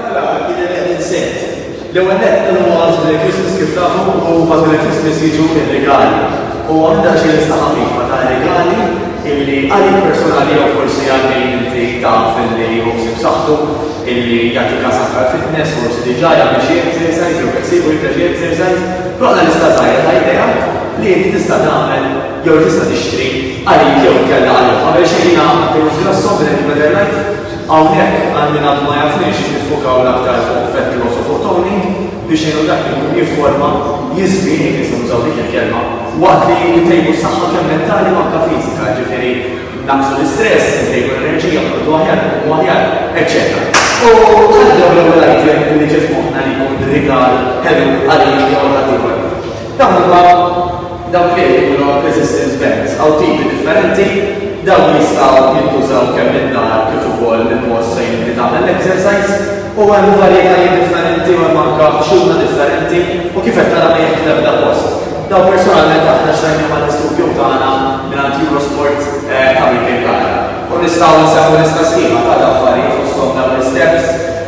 Mela, kien hemm qed insett. L-ewwel nett dan huwa għażel il-Christmas kif tafu u għażel il-Christmas jiġu r-rigali. U hawn daqsxejn lista ħafifa ta' rigali illi għalik personali jew forsi għal min inti taf illi hu ħsieb saħħtu illi jagħti każ aktar fitness, forsi diġà jagħmel xi exercise jew qed isibu jibda xi exercise, roħna lista żgħira ta' idea li inti tista' tagħmel jew tista' tixtri għalik jew inkella għalihom. Qabel xejn jiena għamilt il-lista tas-song li qed nippreżentajt. Hawnhekk, għal min għadu ma jafniex, niffukaw l-aktar fuq Vetloz u fuq Tony biex ngħinu dak li jkun jifforma, jiżvien, jekk nistgħu nużaw dik il-kelma, waqt li ntejbu s-saħħa kemm mentali u anke fiżika, jiġifieri nnaqqsu l-istress, intejbu l-enerġija, noqogħdu aħjar, inqumu aħjar, eċċetera. U għalhekk dawn l-ewwel item li ġie f'moħħna li jkun rigal ħelu għalik jew għal ħaddieħor. Dawn huma dawk li qed ikunu resistance bands, hawn tipi differenti, dawn jistgħu jintużaw kemm mid-dar kif ukoll mill-post fejn inti tagħmel l-exercise u hemm varjetajiet differenti u hemm anke ħxuna differenti u kif qed tara ma jieħdu l-ebda post. Dawn personalment aħna xtrajnihom għall-istudio tagħna mingħand Eurosport ta' Michael Gala u nistgħu nsemmu lista sħiħa ta' affarijiet fosthom dawn l-isteps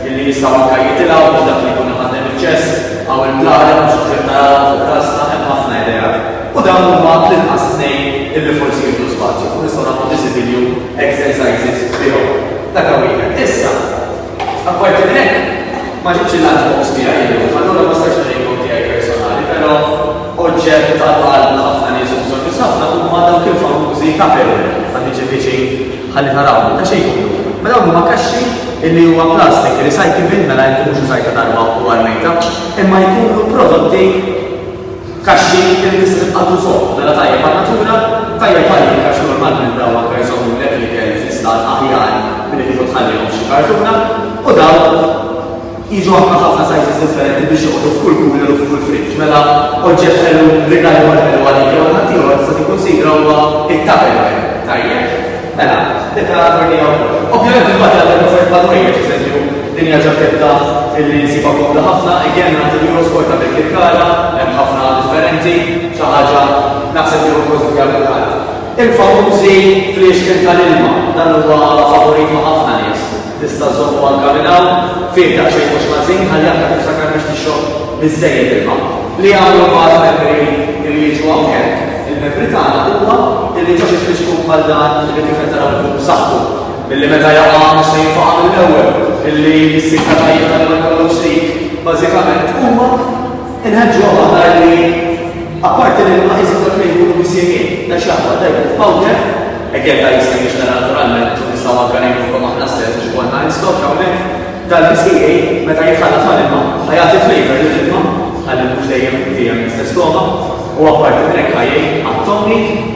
li jistgħu anke jitilgħu biex dak li jkun iħaddem iċ-chest, Hawn il-blalem biex iġib naraw fuq l-għassa hemm ħafna ideat u dawn huma l-inqas tnejn illi forsi jieħdu spazju fuq nistgħu nagħmlu visibilju exercises bihom. Dak hawn wieħed. Issa, apparti minn hekk, ma ġibtx il-lunch box tiegħi illum, allura ma stajtx nurejkom tiegħi personali, però oġġett tal-qalb ħafna nies u bżonn nies ħafna huma dawk il-famużi tupperware, ħa niġi viċin Ħalli taraw, ta' xejn jidhru. Ma dawn huma kaxxi illi huma plastik, recyclable, mela inti mhux użajta darba u armejta, imma jkunu prodotti kaxxi illi tista' tibqa' tużhom, mela tajjeb għan-natura, tajjeb għalik għax normalment dawn anke jżommulek l-ikel fi stat aħjar milli kieku tħallihom f'xi kartuna, u dawn, Jiġu anke ħafna sizes differenti biex joqogħdu f'kull cooler u f'kull fridge. Mela oġġett ħelu, rigal ieħor ħelu għalik jew għal ħaddieħor tista' tikkunsidra huwa t-tupperware. Tajjeb? Mela, din taraha turnija wkoll. Ovvjament il-bagħad jagħti offerti bħal ħwejjeġ, eżempju, din hija ġaketta li nsibha komda ħafna, again nagħti l-Euro Sport għal dik il-kara, hemm ħafna differenti, xi ħaġa naħseb li hu possibbli għal kulħadd. Il-famużi fliexken tal-ilma, dan huwa favorit ma' ħafna nies. Tista' żżommu manka minn hawn fih daqsxejn mhux ħażin ħalli anka tiftakar biex tixrob biżżejjed ilma. Li jagħmlu mbagħad membri li jiġu hawnhekk il-membri tagħna huwa illi ġo xi fliexkun bħal dan li tifel taraw ikun b'saħħtu milli meta jaqa' mhux se jinfaqa' mill-ewwel, illi s-sikta tajba tal-ewwel kollox dik bażikament huma. Inħeġġuhom aħna li apparti li l-ma iżjed dak li jkunu misjegħin, ta' xi aħwa ta' jkun f'powder, hekk jekk dan jista' jinxtra naturalment u nistgħu anke ngħinukom aħna stess biex ikollna in stock hawnhekk, dan misjegħin meta jitħallat mal-ilma ħa jagħti flavour lill-ilma ħalli mhux dejjem dejjem l-istess togħma u apparti minn hekk ħa jgħin għat-togħmit.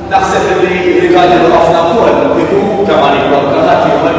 Naħseb illi rigal lil ħafna wkoll ikun ta' ma jibqa' bla ħadd ieħor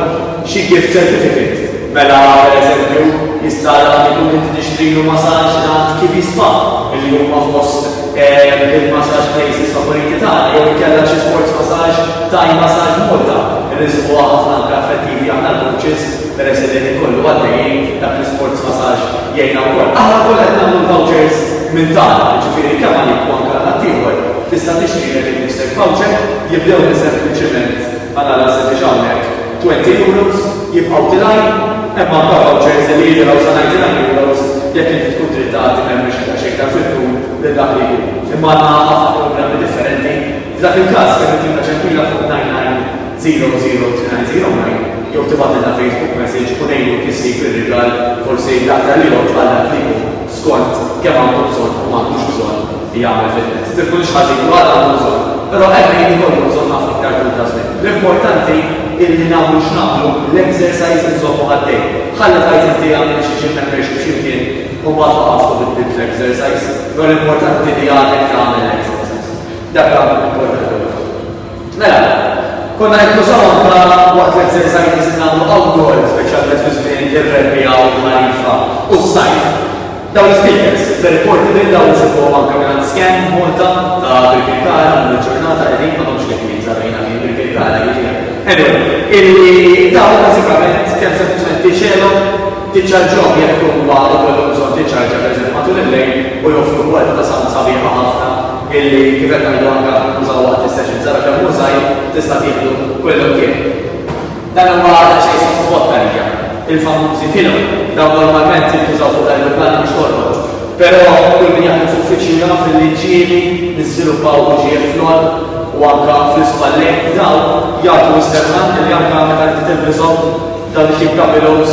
xi gift certificate. Mela per eżempju jista' dak li kont inti tixtrilu masaġġ ngħand Kiwi Spa illi huma fost il-masaġġ places favoriti tagħna jew inkella xi sports masaġġ, Thai Massage Malta, irriżquha ħafna anke affettivi aħna l-coaches peress illi ħin kollu għaddejjin dak l-isports masaġġ. jgħinna wkoll. Aħna wkoll qed nagħmlu l-vouchers minn tagħna, jiġifieri kemm għalik u anke għal ħaddieħor tista' tixtrilek innifsek voucher, jibdew minn sempliċement, għal alla se tiġi hawnhekk, twenty euros, jibqgħu tilgħin, hemm anke vouchers li jilgħu sa ninety nine euros jekk inti tkun trid tagħti membership xejn iktar fit-tul lil dak li jkun. Imma għandna ħafna programmi differenti. F'dak il-każ kemm il-ġimgħa ġempila fuq ninety nine 00290 jew tibgħatilna Facebook message u ngħinuk issib ir-rigal forsi l-aktar li jgħoġġ għal dak li hu skont kemm għandu bżonn u m'għandux bżonn li jagħmel fil-net. Tifhmu li xi ħażin jkun għandu bżonn, però hemm min ikollu bżonn ħafna iktar tul ta' żmien. L-importanti illi nagħmlu x'nagħmlu l-exercise inżommu għaddej. Ħalli tgħid inti għamilt xi gym membership xi mkien u mbagħad waqaft u biddilt l-exercise, però l-importanti li għadek tagħmel l-exercise. Dak għandu importanti. Mela, konna qed nużaw anke waqt l-exercises li nagħmlu outdoor, speċjalment fi żmien ir-rebbiegħa u l-ħarifa u s-sajf. Dawn l-ispeakers, very portable, dawn insibuhom anke mingħand Scan Malta ta' Birkirkara llum il-ġurnata qegħdin, m'għadhomx li kmieni sa bejna minn Birkirkara jiġifieri. Anyway, illi dawn bażikament kemm sempliċement tixgħelhom, tiċċarġhom jekk huma jkollhom bżonn tiċċarġja pereżempju matul il-lejl u joffru kwalità ta' sound sabiħa ħafna. illi kif qed ngħidu anke ntużaw waqt is-sessions ara kemm hu żgħir, tista' tieħdu kull imkien. Dan huwa daqsxejn sottovolt għalija. Il-famużi pillow, dawn normalment jintużaw fuq l-ajruplani biex torqod. Però kull min jaħdem f'uffiċċju jaf illi ġieli niżviluppaw uġigħ fl-għonq u anke fl-ispallejn u dawn jagħtu s-serħan illi anke meta inti tilbishom dawn it-tip ta' pillows,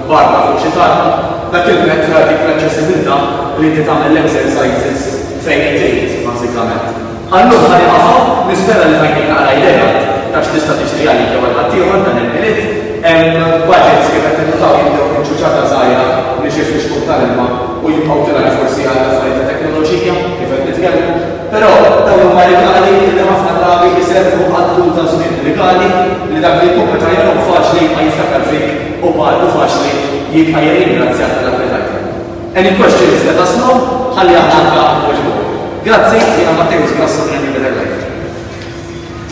Barra fuq xi talba, dak il-mezz ra dik l-aċċessibilità li inti tagħmel l-exercises fejn hi trid, bażikament. Għal-lum ħa nieqaf hawn, nispera li tajtni naqra idea ta' x'tista' tiġri għalik jew għal ħaddieħor dan il-Milied. Budgets kif qed tinnutaw jibdew minn ċuċata żgħira li xi ftit xkub tal-ilma u jibqgħu tiraj forsi għal affarijiet ta' teknoloġija kif qed nitkellmu. Però dawn huma rigali li ħafna drabi jservu għal tul ta' żmien, rigali li dak li jkun meta jarahom faċli ma jiftakar fik u b'għaqlu faċli jibqa' jirringrazzja ta' dak li tajthom. Any questions let us know, ħalli aħna anka nweġbuhom. Grazzi, jiena Matteus Grasso minn New Better Life.